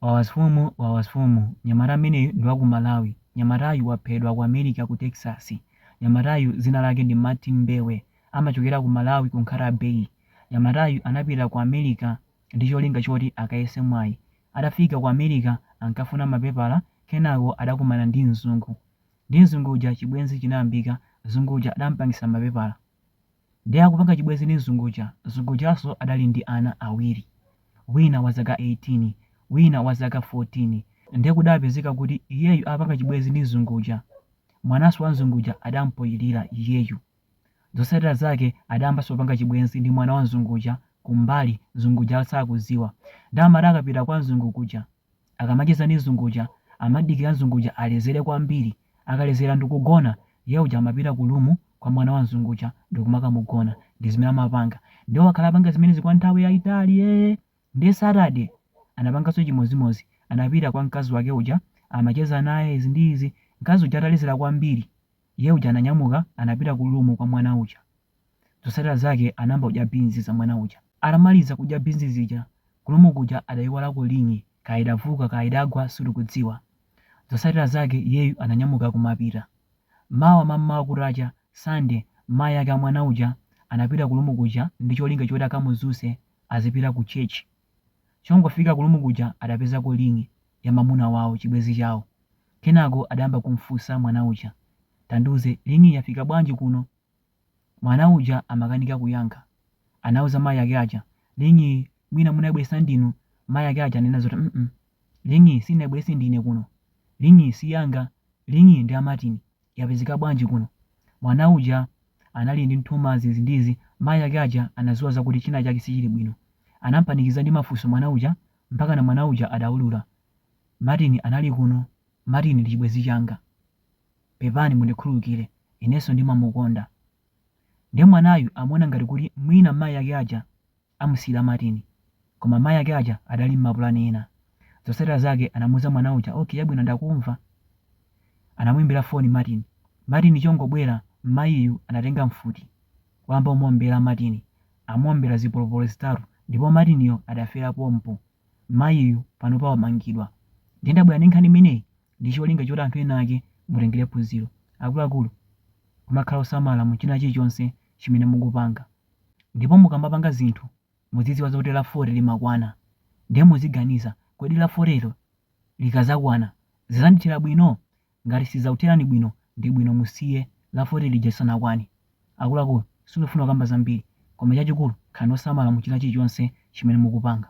Wawasfumu wawasfumu nyamata ameneyu ndi wa ku Malawi nyamatayu waphedwa ku America ku Texas nyamatayu zina lake ndi Martin Mbewe amachokera ku Malawi ku Nkhata Bay nyamatayu anapita ku America ndi cholinga choti akayese mwayi atafika ku America ankafuna mapepala kenako adakumana ndi mzungu ndi mzungu uja chibwenzi chinayambika mzungu uja adampangisa mapepala Ndiye akupanga chibwenzi ndi mzungu uja. Mzungu ujanso adali ndi ana awiri, wina wa zaka 18, wina wa zaka 14. Ndiye kudapezeka kuti iyeyu apanga chibwenzi ndi mzungu uja, mwananso wa mzungu uja adampoyilira iyeyu. Zotsatira zake adayambanso kupanga chibwenzi ndi mwana wa mzungu uja kumbali, mzungu uja asakudziwa. Ndiye amati akapita kwa mzungu kuja, Akamacheza ndi mzungu uja amadikira mzungu uja alezere kwambiri. Akalezera ndikugona, iye uja amapita ku room kwa mwana wa mzungu uja ndikumakamugona. Ndi zimene amapanga. Ndiye wakhala apanga zimenezi kwa nthawi yaitali ee! Ndiye Saturday anapanganso chimodzimodzi. Anapita kwa mkazi wake uja, amacheza naye izi ndi izi. Mkazi uja atalezera kwambiri, iye uja ananyamuka anapita ku room kwa mwana uja. Zotsatira zake anayamba kudya beans za mwana uja. Atamaliza kudya beans zija, ku room kuja adaiwalako ring'i, kaya idavuka kaya idagwa sitikudziwa. Zotsatira zake iyeyu ananyamuka kumapita. Mawa mammawa kutacha, Sunday, mayi ake a mwana uja anapita ku room kuja ndi cholinga choti akamudzutse azipita ku church. Chongofika ku room kuja adapezako ring'i ya mamuna wawo, chibwenzi chawo. Kenako adayamba kumfunsa mwana uja, Tandiuze, ring'iyi yafika bwanji kuno? Mwana uja amakanika kuyankha. Anauza mayi ake aja, Ring'iyi, mwina munaibweretsa ndinu? Mayi ake aja ananena zoti, mm Ring'iyi sindinaibweretse ndine kuno. Ring'iyi si yanga. Ring'iyi ndi ya Martin. Yapezeka bwanji kuno? Mwana uja anali ndi nthumazi izi ndi izi. Mayi ake aja anadziwa zakuti china chake sichili bwino. Anam'panikiza ndi mafunso mwana uja mpakana mwana uja adaulula. Martin anali kuno. Martin ndi chibwenzi changa. Pepani mundikhululukire inenso ndimamukonda. Nde mwanayu amaona ngati kuti mwina mayi ake aja amusiyira Martin koma mayi ake aja adali mmapulani ena. Zotsatira zake anamuuza mwana uja ok chabwino ndakumva. Anamuimbira foni Martin. Martin chongobwera mmayiyu anatenga mfuti wayamba kumuombera Martin amuombera zipolopolo zitatu ndipo Martinyo adafera pompo. Mmayiyu panopa wamangidwa. Nde ndabwera ndi nkhani imeneyi ndi cholinga choti anthu ena ake mutengere phunziro. Akuluakulu, kumakhala osamala mu china chilichonse chimene mukupanga. Ndipo mukamapanga zinthu, muzidziwa zoti la 40 limakwana. Ndiye muziganiza, kodi la 40 lo likadzakwana, zidzandithera bwino? Ngati sizidzakutherani bwino, ndi bwino musiye la 40 lija lisanakwane. Akuluakulu, sindikufuna kukamba zambiri, koma chachikulu, khalani osamala mu china chilichonse chimene mukupanga.